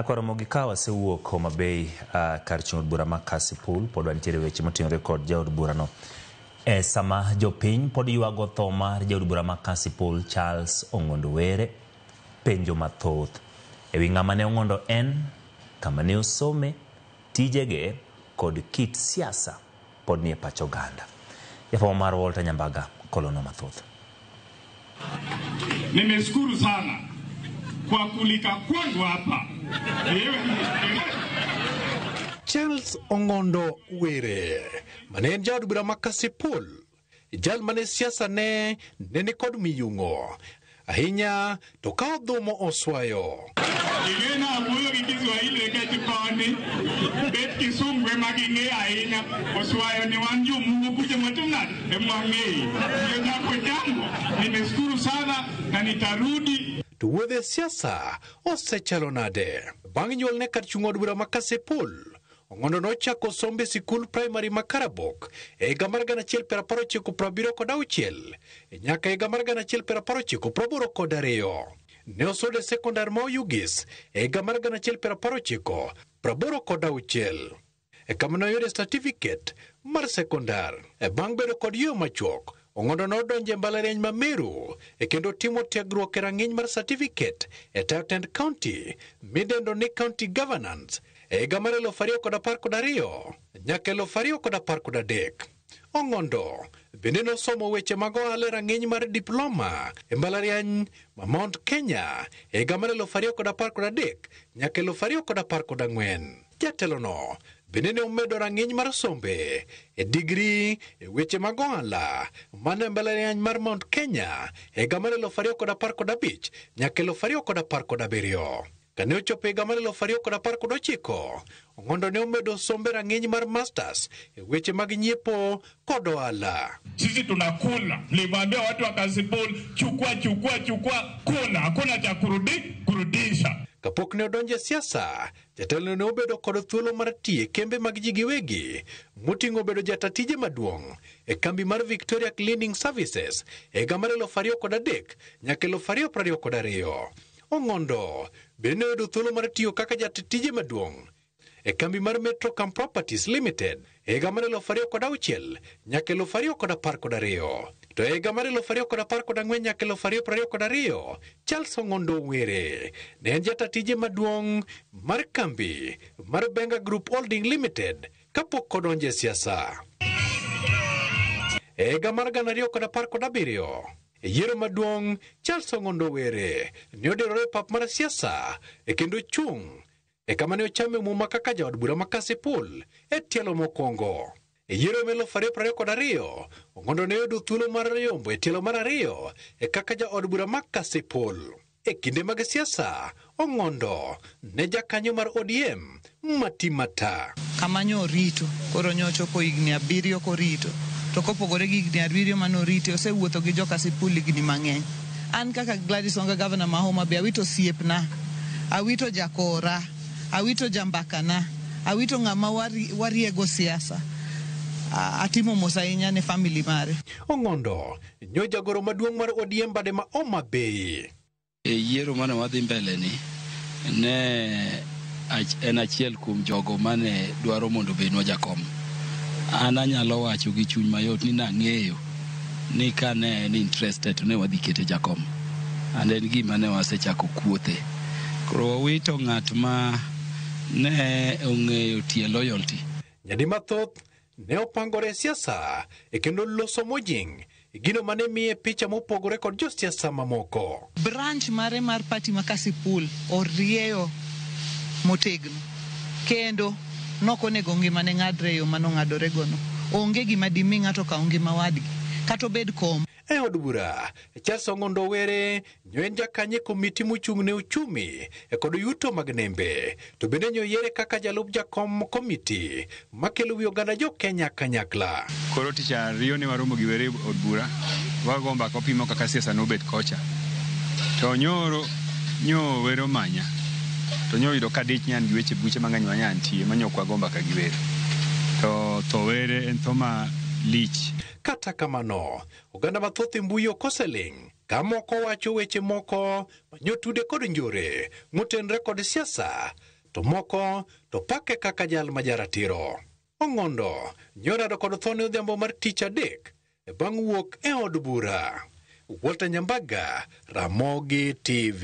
Kwaro mogi ka wasewuok Homa Bay kar chung' od bura ma Kasipul, pod wantiere weche motenore kod jaod bura no. E sama jopiny pod ywago tho mar jaod bura ma Kasipul Charles Ong'ondo Were, penjo mathoth e wi ng'ama ne Ong'ondo en, kama ne osome, tijege kod kit siasa pod nie pach oganda. Jafwambo marwa Walter Nyambaga kolonwa mathoth. Nimeshukuru sana kwa kulika kwangu hapa. Charles Ongondo Were mane en jaod bura ma Kasipul Jal mane siasane ne ni kod miyung'o ahinya to ka odhumo oswayo. Igena wuoyo gi Kiswahili nikech koni bet Kisungu ema ging'eyo ahinya. Oswayo ni wan jomungu kuja matuna ema wang'eyo. Ndio jambo jambo. Nimeshukuru sana na nitarudi. To wuodhe siasa osechalo nade? Bang' nyuolne kar chung' od bura ma Kasipul, Ong'ondo nochako sombe sikul praimari ma Karabok e higa mar gana achiel piero apar ochiko piero abiriyo kod auchiel nyaka higa mar gana achiel piero apar ochiko piero aboro kod ariyo. Ne osodo e sekondar ma Oyugis e higa mar gana achiel piero apar ochiko piero aboro kod auchiel. E kama noyude satifiket mar sekondar. E bang' bedo kod yweyo machuok, Ong'ondo nodonjo e mbalariany ma Meru e kendo otimo tiegruok e rang'iny mar certificate e tayo tend county midendo ni county governance e higa mar eluf ariyo kod apar kod ariyo nyaka eluf ariyo kod apar kod adek. Ong'ondo bende nosomo weche mag ohala e rang'iny mar diploma e mbalariany ma Mount Kenya e higa mar eluf ariyo kod apar kod adek nyaka eluf ariyo kod apar kod ang'wen. Jatelono bende ne omedo rang'iny mar sombe e digri e weche mag ohala mane mbalariany mar Mount Kenya e higa mar eluf ariyo kod apar kod abich nyaka eluf ariyo kod apar kod abiriyo. Kane ochopo higa mar eluf ariyo kod apar kod ochiko, Ong'ondo ne omedo sombe rang'iny mar masters e weche mag nyiepo kod ohala. Sisi tunakula, mliwaambia watu wa Kasipul chukua chukua chukua, kula, hakuna cha kurudi kurudisha. Kapok ne odonjo e siasa, Jatelono ne obedo kod thuolo mar tiyo e kembe mag ji giwegi, moting'o bedo jata tije maduong' e kambi mar Victoria Cleaning Services e higa mar 2003 nyaka 2022. Ong'ondo bende ne oyudo thuolo mar tiyo kaka jata tije maduong' e kambi mar Metrocam Properties Limited e higa mar elufu ariyo kod auchiel nyaka elufu ariyo kod apar kod ariyo to e higa mar elufu ariyo kod apar kod ang'wen nyaka elufu ariyo prariyo kod ariyo Charles Ong'ondo Were ne en jata tije maduong' mar kambi mar Benga Group Holding Limited kapok odonje siasa. E higa mar gana ariyo kod apar kod abiriyo e yiero maduong' Charles Ong'ondo Were ne odirore e pap mar siasa e kendo chung' e kama ne ochame muma kaka jaod bura ma Kasipul e tielo mokwongo. E yiero ma eluf ariyo prariyo kod ariyo, Ong'ondo ne oyudo thuolo mar yombo e tielo mar ariyo e kaka jaod bura ma Kasipul. E kinde mag siasa, Ong'ondo ne jakanyo mar ODM mati mata. Kama nyo orito, koro nyo ochopo higni abiriyo korito. To kopogore gi higni abiriyo mane orite, osewuotho gi jo Kasipul higni mang'eny. An kaka Gladys Wanga Gavana ma Homa Bay awito osiepna, awito jakora, awito jambakana, awito ng'ama wari- wariego siasa. A- Atimo mos ahinya ne family mare. Ong'ondo nyo jagoro maduong' mar ODM bade ma Homa Bay. e yiero mane wadhi mbele ni ne ach- en achiel kuom jogo mane dwaro mondo obednwa jakom an anyalo wacho gi chuny mayot ni nang'eyo ni ka ne en interested to ne wadhi kete jakom and en gima ne wasechako kuothe. Koro wawito ng'at ma ne ong'eyo tie loyalty. Nyadi mathoth ne opangore e siasa e kendo loso mojing' e gino mane miye picha mopogore kod josiasa mamoko. Branch mare mar party ma Kasipul orieyo motegno kendo nok onego ngimane ng'adre e yo mane ong'adore gono. Onge gima dimi ng'ato okaw ngima wadgi kata obed kom. E od bura, Charles Ong'ondo Owere nyo en jakany e komiti mochung' ne ochumi kod yuto mag nembe. to bende ne oyiere kaka jalup jakom komiti makelo wi oganda jo Kenya kanyakla. Koro tich ariyo ne waromo gi were od bura wago mbaka wapimo kaka siasa nobet kocha to nyoro nyo were omanya to nyo oyudo ka dich nyan gi weche buche mang'eny ma nyan tie manyo ok wago mbaka gi were to tho were en tho ma lich Kata kamano, oganda mathoth e mbui ok oseling' ka moko wacho weche moko manyotude kod njore motenre kod siasa to moko to pake kaka jal ma jaratiro. Ong'ondo nyorado kod thone odhiambo mar tich adek e bang' wuok e od bura. Walter Nyambaga, Ramogi TV.